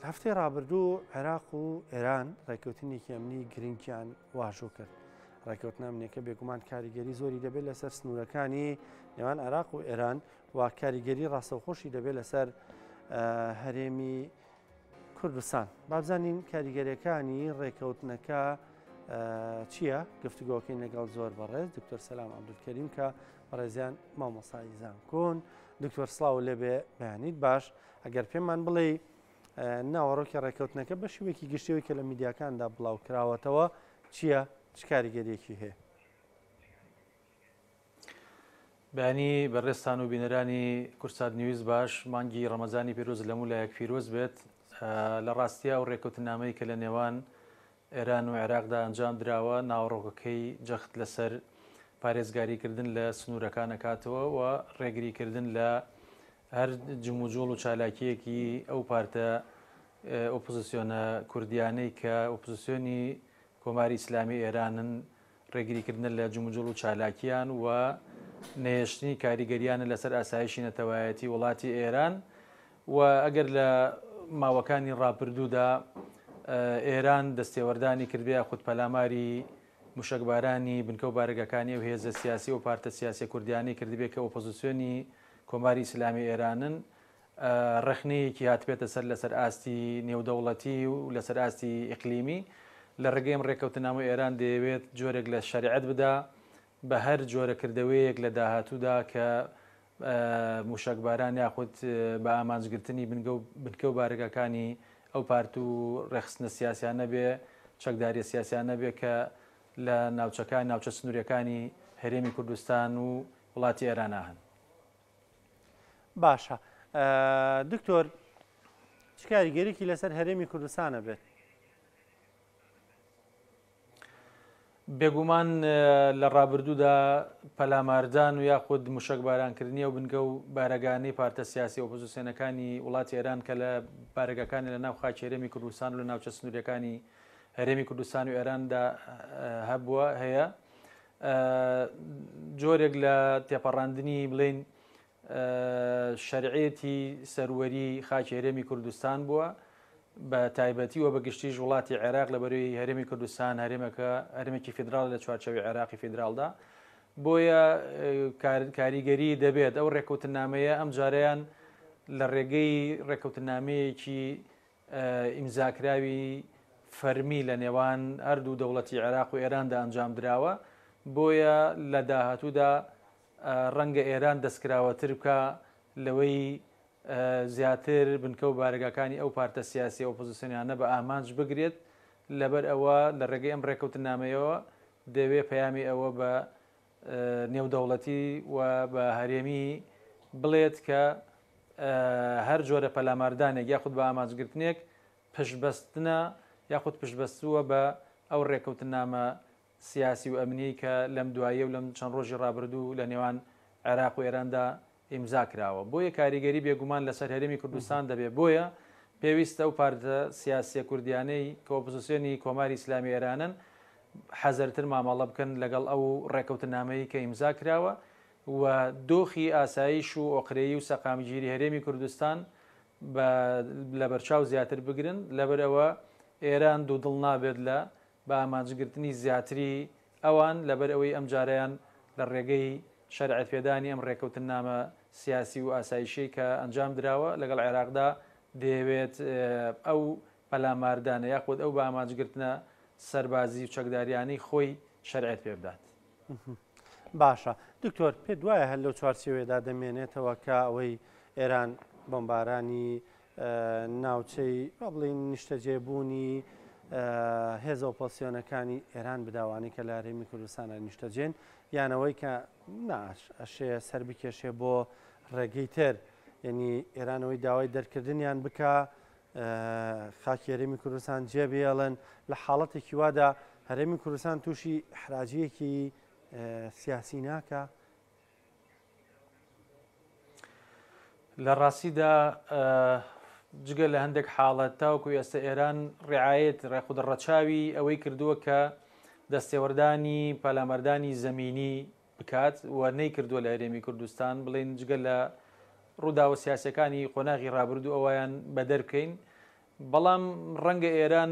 هەفتەی ڕابردوو عێراق و ئێران ڕێککەوتنێکی ئەمنی گرنگیان واژۆ کرد. ڕێککەوتن ئەمنیەکە بێگومان کاریگەری زۆری دەبێت لەسەر سنوورەکانی نێوان عێراق و ئێران و کاریگەری ڕاستەوخۆشی دەبێت لەسەر هەرێمی کوردستان. بابزانین کاریگەریەکانی ڕێککەوتنەکە چییە گفتوگۆکەین لەگەڵ زۆر بەڕێز دکتۆر سەسلام عبدولکەریم کە بەڕێزیان مامۆسای زانکۆن دکتۆر سڵاو لێبێ بەیانیت باش ئەگەر پێمان بڵێ ناوەڕۆکی ڕێککەوتنەکە بە شوێکی گشتەوەی کە لە میدیاکاندا بڵاو کراوەتەوە چییە چ کاریگەریەکی هەیە بەینی بەڕێستان و بینەرانی کورسات نیویز باش مانگی ڕەمەزانی پیرۆز لەموو لایەک پیرۆز بێت لە ڕاستیا و ڕێکوتنامەی کە لە نێوان ئێران و عێراقدا ئەنجام دراوە، ناوەڕۆکەکەی جەخت لەسەر پارێزگاریکردن لە سنوورەکان دەکاتەوە و ڕێگریکردن لە هەر جموجۆڵ و چالاکییەکی ئەو پارتە ئۆپۆزسیۆنە کوردییانەی کە ئۆپۆزسیۆنی کۆماری ئیسلامی ئێرانن ڕێگریکردنە لە جموجوڵ و چالاکییان و نەهێشتنی کاریگەرییانە لەسەر ئاسایشی نەتەوایەتی وڵاتی ئێران و ئەگەر لە ماوەکانی ڕاپردوودا ئێران دەستێوەردانی کردبێ یاخود پەلاماری موشەکبارانی بنکە و بارەگاکانی و هێزە سیاسی و پارتە سیاسیە کوردیانەی کردبێ کە ئۆپۆزیسیۆنی کۆماری ئیسلامی ئێرانن ڕەخنەیەکی هاتبێتە سەر لەسەر ئاستی نێودەوڵەتی و لەسەر ئاستی ئیقلیمی، لە ڕێگەی ئەم ڕێککەوتننامە ئێران دەیەوێت جۆرێک لە شەرعیەت بدا بە هەر جۆرە کردەوەیەک لە داهاتوودا کە مووشەکباران یاخود بە ئامانجگرتنی بنگە و بنکە و بارەگاکانی ئەو پارت و ڕێکخستنە سیاسیانە بێ چەکداریە سیاسیانە بێ کە لە ناوچەکان ناوچە سنووریەکانی هەرێمی کوردستان و وڵاتی ئێرانا هەن. باشە دکتۆر چ کاریگەریکی لەسەر هەرێمی کوردستانە بێت بێگومان لە ڕابردوودا پەلاماردان و یاخود مشک بارانکردنی و بنگە و بارەگانی پارتە سیاسی ئۆپۆزیسیۆنەکانی وڵاتی ئێران کە لە بارگەکانی لە ناو خاچێرەمی کوردستان و لە ناوچە سنوورەکانی هەرێمی کوردستان و ئێراندا هەبووە هەیە جۆرێک لە تێپەڕاندنی بڵێن شەرعێتی سەروەری خاکی هەرێمی کوردستان بووە بە تایبەتی و بە گشتیش وڵاتی عێراق لە بەروی هەرێمی کوردستان هەرێمەکە هەرمێکی فیدرال لە چوارچەوی عێراقی فیدرالدا بۆیە کاریگەری دەبێت ئەو ڕێکوتنامەیە ئەم جارەیان لە ڕێگەی ڕێکوتنامەیەکی ئیمزاکراوی فەرمی لە نێوان هەردوو دەوڵەتی عێراق و ئێراندا ئەنجامدراوە، بۆیە لە داهاتوودا ڕەنگە ئێران دەستکراوەتر بکا لەوەی زیاتر بنکە و بارەگاکانی ئەو پارتە سیاسییە ئۆپۆزسیۆنیانە بە ئامانج بگرێت، لەبەرئەوە لە ڕێگەی ئەم ڕێکەوتنامەیەوە دەیەوێ پەیامی ئەوە بە نێودەوڵەتی و بە هەرێمی بڵێت کە هەر جۆرە پەلاماردانێک یاخود بە ئامانجگرتنێک پشتبەستنە یاخود پشتبەستووە بە ئەو ڕێکەوتنامە سیاسی و ئەمنیەی کە لەم دواییە و لەم چەند ڕۆژی ڕابردوو لە نێوان عێراق و ئێراندا ئیمزا کراوە بۆیە کاریگەری بێگومان لەسەر هەرێمی کوردستان دەبێت بۆیە پێویستە ئەو پارتە سیاسیە کوردیانەی کە ئۆپزسیۆنی کۆماری ئیسلامی ئێرانن حەزەرتر مامەڵە بکەن لەگەڵ ئەو ڕێکەوتنامەی کە ئیمزا کراوە و دۆخی ئاسایش و ئۆقرەیی و سەقامگیری هەرێمی کوردستان بە لەبەرچاو زیاتر بگرن لەبەرئەوە ئێران دوو دڵ نابێت لە بە ئامانجگرتنی زیاتری ئەوان، لەبەر ئەوەی ئەمجارەیان لە ڕێگەی شەرعیەتپێدانی ئەم ڕێککەوتننامە سیاسی و ئاسایشیەی کە ئەنجام دراوە لەگەڵ عێراقدا، دەیەوێت ئەو پەلاماردانە یاخود ئەو بە ئامانجگرتنە سەربازی و چەکداریانەی خۆی شەرعیەت پێ بدات. باشە دکتۆر، پێت وایە هەر لەو چوارچێوەیەدا دەمێنێتەوە کە ئەوەی ئێران بۆمبارانی ناوچەی با بڵێین نیشتەجێ بوونی هێزە ئۆپۆسیۆنەکانی ئێران بداوانەی کە لە هەرێمی کوردستانە نیشتەجێن یانەوەی کە ناش ئەشێ سەر بکێشێ بۆ ڕێگەی تر یعنی ئێرانەوەی داوای دەرکردنیان بکە خاکی هەرێمی کوردستان جێبێڵن لە حاڵەتێکی وادا هەرێمی کوردستان تووشی حراجەکی سیاسی ناکە لە ڕاستیدا جگە لە هەندێک حاڵەت تاوکو ئێستا ئێران ڕعاەت ڕێخود ڕەچاوی ئەوەی کردووە کە دەستێوەردانی پەلامەردانی زمینی بکات و نەی کردووە لە هەرێمی کوردستان بڵین جگە لە ڕووداوە سیاسەکانی قۆناغی ڕابردوو ئەویان بەدەرکەین بەڵام ڕەنگە ئێران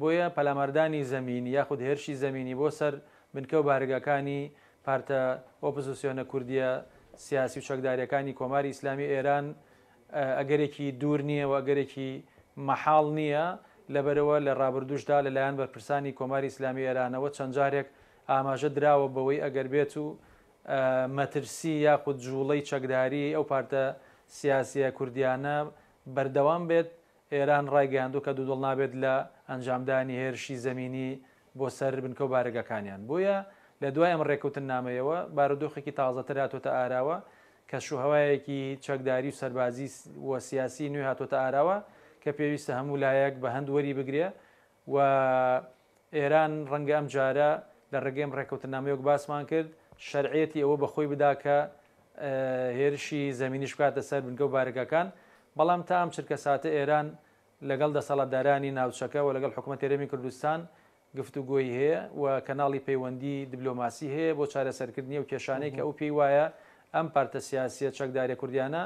بۆیە پەلاماردانی زەمینی یاخود هێرشی زەمینی بۆ سەر بنکە و بارەگاکانی پارتە ئۆپزسیۆنە کوردییە سیاسی و چەکدارییەکانی کۆماری ئیسلامی ئێران ئەگەرێکی دوور نییە و ئەگەرێکی مەحاڵ نییە، لەبەرئەوە لە ڕابردووشدا لە لایەن بەرپرسانی کۆماری ئیسلامی ئێرانەوە چەند جارێک ئاماژە دراوە بەوەی ئەگەر بێتو مەترسی یاخود جووڵەی چەکداریی ئەو پارتە سیاسییە کوردییانە بەردەوام بێت ئێران ڕایگەیاندووە کە دوودڵ نابێت لە ئەنجامدانی هێرشی زەمینی بۆ سەر بنکە و بارەگاکانیان، بۆیە لە دوای ئەم ڕێککەوتننامەیەوە بارودۆخێکی تازەتر هاتووەتە ئاراوە، کەشوهەوایەکی چەکداری و سەربازی و سیاسی نوێ هاتووەتە ئاراوە کە پێویستە هەموو لایەک بە هەند وەریبگرێ و ئێران ڕەنگە ئەم جارە لە ڕێگەیم ڕێکەوتنامەی وەک باسمان کرد شەرعیەتی ئەوە بە خۆی بدا کە هێرشی زەمینیش بکاتە سەر بنکە و بارەگاکان بەڵام تا ئەم چرکەساتە ئێران لەگەڵ دەسەڵاتدارانی ناوچەکە و لەگەڵ حکوومەت هەرێمی کوردستان گفتوگۆی هەیە و کەناڵی پەیوەندی دبلۆماسی هەیە بۆ چارەسەرکردنی و کێشانەی کە ئەو پێی وایە ئەم پارتە سیاسیە چەکدارە کوردیانە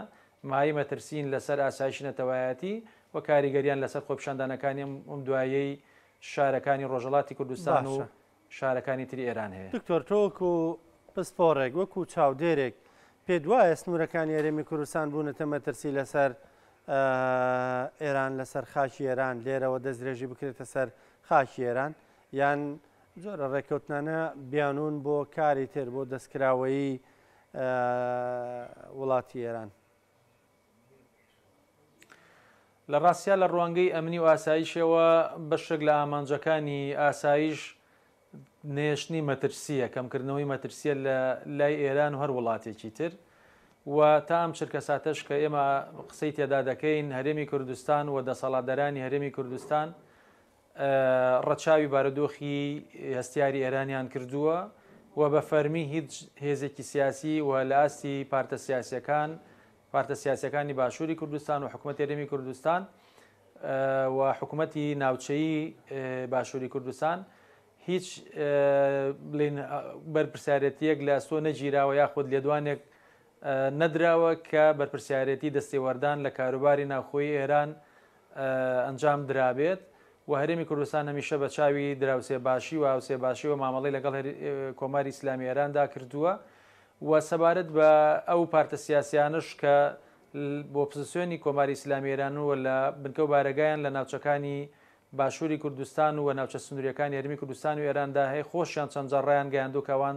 مایە مەترسین لەسەر ئاسایشی نەتەوایەتی و کاریگەریان لەسەر خۆپیشاندانەکانی ئەم دواییەی شارەکانی ڕۆژهەڵاتی کوردستان و شارەکانی تری ئێران هەیە. دکتۆر تۆ وەکو پسپۆڕێک، وەکو چاودێرێک پێت وایە سنوورەکانی هەرێمی کوردستان بوونەتە مەترسی لەسەر ئێران، لەسەر خاکی ئێران، لێرەوە دەستدرێژی بکرێتە سەر خاکی ئێران یان جۆرە ڕێککەوتنانە بیانوون بۆ کاری تر، بۆ دەستکراوەیی وڵاتی ئێران؟ لە ڕاستیا لە ڕوانگەی ئەمنی و ئاسایشەوە بەشێک لە ئامانجەکانی ئاسایش نەهێشتنی مەترسییە، کەمکردنەوەی مەترسییە لە لای ئێران و هەر وڵاتێکی تر و تا ئەم چرکەساتەش کە ئێمە قسەی تێدا دەکەین هەرێمی کوردستان و دەسەڵاتدەرانی هەرێمی کوردستان ڕەچاوی بارودۆخی هەستیاری ئێرانیان کردووە و بە فەرمی هیچ هێزێکی سیاسی و لە ئاستی پارتە سیاسەکان پارتە سیاسەکانی باشووری کوردستان و حکوومەتی رێمی کوردستان و حکوومەتی ناوچەی باشووری کوردستان هیچ بڵین بەرپرسیارەتیەک لە ئەستۆ نەگیراوە یاخود لێدوانێک نەدراوە کە بەرپرسیارەتی دەستێوەردان لە کاروباری ناوخۆی ئێران ئەنجام درابێت و هەرێمی کوردستان هەمیشە بە چاوی دراوسێ باشی و هاوسێ باشیەوە مامەڵەی لەگەڵ کۆماری ئیسلامی ئێراندا کردووە و سەبارەت بە ئەو پارتە سیاسیانەش کە بۆ پزسیۆنی کۆماری ئیسلامی ئێران و لە بنکە و بارەگایان لە ناوچەکانی باشووری کوردستان و ناوچە سنووریەکانی هەرمی کوردستان و ئێراندا هەیە خۆشیان چەند جاڕیان گەیاندو کەوان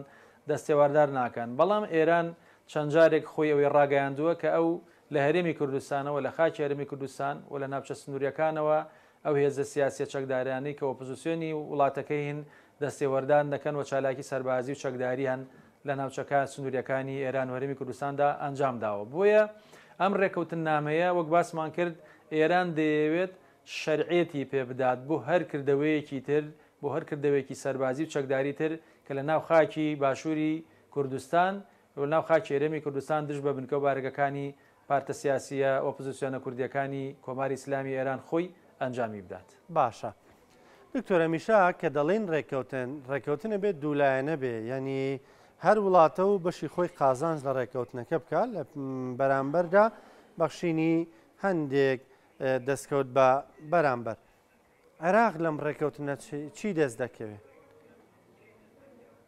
دەستێواردار ناکەن بەڵام ئێران چەند جارێک خۆی ئەوەی ڕاگەیاندووە کە ئەو لە هەرێمی کوردستانەوە، لە خاکی هەرێمی کوردستان و لە ناوچە سنوورییەکانەوە ئەو هێزە سیاسییە چەکدارانەی کە ئۆپۆزیسیۆنی وڵاتەکەین دەستێوەردان دەکەن و چالاکی سەربازی و چەکدارییان لە ناوچەکە سنوورییەکانی ئێران و هەرێمی کوردستاندا ئەنجام داوە. بۆیە ئەم ڕێککەوتننامەیە وەک باسمان کرد ئێران دەیەوێت شەرعیەتی پێ بدات بۆ هەر کردەوەیەکی تر، بۆ هەر کردەوەیەکی سەربازی و چەکداری تر کە لە ناو خاکی باشووری کوردستان لە ناو خاکی هەرێمی کوردستان دژ بە بنکە و بارەگەکانی پارتە سیاسییە ئۆپزسیۆنە کوردییەکانی کۆماری ئیسلامی ئێران خۆی ئەنجامی بدات. باشە دکتۆر هەمیشە کە دەڵێین ڕێککەوتن، ڕێککەوتن ئەبێ دوو لایەنە بێ یانی هەر وڵاتە و بەشی خۆی قازانج لە ڕێککەوتنەکە بکا لە بەرامبەردا بەخشینی هەندێک دەستکەوت بە بەرامبەر عێراق لەم ڕێککەوتنە چی دەست دەکەوێ؟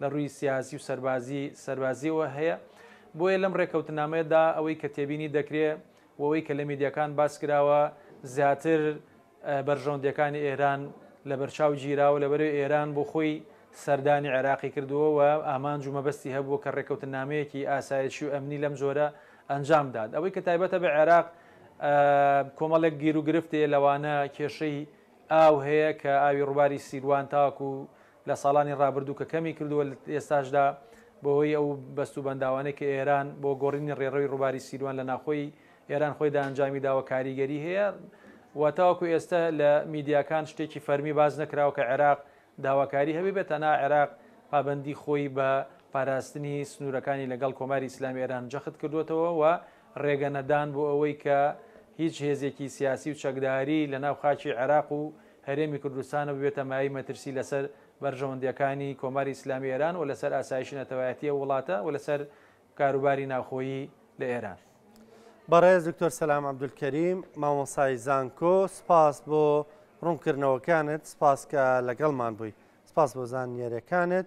لە ڕووی سیاسی و سەربازی سەربازیەوە هەیە بۆیە لەم ڕێکەوتنامەیەدا ئەوەی کە تێبینی دەکرێ وەوەی کە لە میدیەکان باس کراوە زیاتر بەرژەوندەکانی ئێران لە بەرچاو گیراوە لە بەرەو ئێران بۆ خۆی سەردانی عێراقی کردووە و ئامانج و مەبەستی هەبووە کە ڕێکەوتن نامەیەکی ئاسایشی و ئەمنی لەم جۆرە ئەنجام داد ئەوەی کە تایبەتە بە عێراق کۆمەڵێک گیر و گرفتێ لەوانە کێشەی ئاو هەیە کە ئاوی ڕووباری سیروان تاکو لە ساڵانی ڕابردوو کە کەمی کردووە لە ئێستاشدا بەهۆی ئەو بەست و بەنداوانەی کە ئێران بۆ گۆڕینی ڕێڕەوی ڕووباری سیروان لە ناخۆی ئێران خۆیدا ئەنجامی داوە کاریگەری هەیە و تاوەکو ئێستە لە میدیاکان شتێکی فەرمی باز نەکراوە کە عێراق داواکاری هەبێ بێت تەنا عێراق پابەندی خۆی بە پاراستنی سنوورەکانی لەگەڵ کۆماری ئیسلامی ئێران جەخت کردوێتەوە و ڕێگە نەدان بۆ ئەوەی کە هیچ هێزێکی سیاسی و چەکداری لە ناو خاکی عێراق و هەرێمی کوردستان و ببێتە مایەی مەترسی لەسەر بەرژەوەندییەکانی کۆماری ئیسلامی ئێران و لەسەر ئاسایشی نەتەوایەتی ئەو وڵاتە و لەسەر کاروباری ناوخۆیی لە ئێران. بەڕێز دکتۆر سەلام عەبدولکەریم، مامۆسای زانکۆ، سپاس بۆ ڕوونکردنەوەکانت، سپاس کە لەگەڵمان بووی. سپاس بۆ زانیارییەکانت.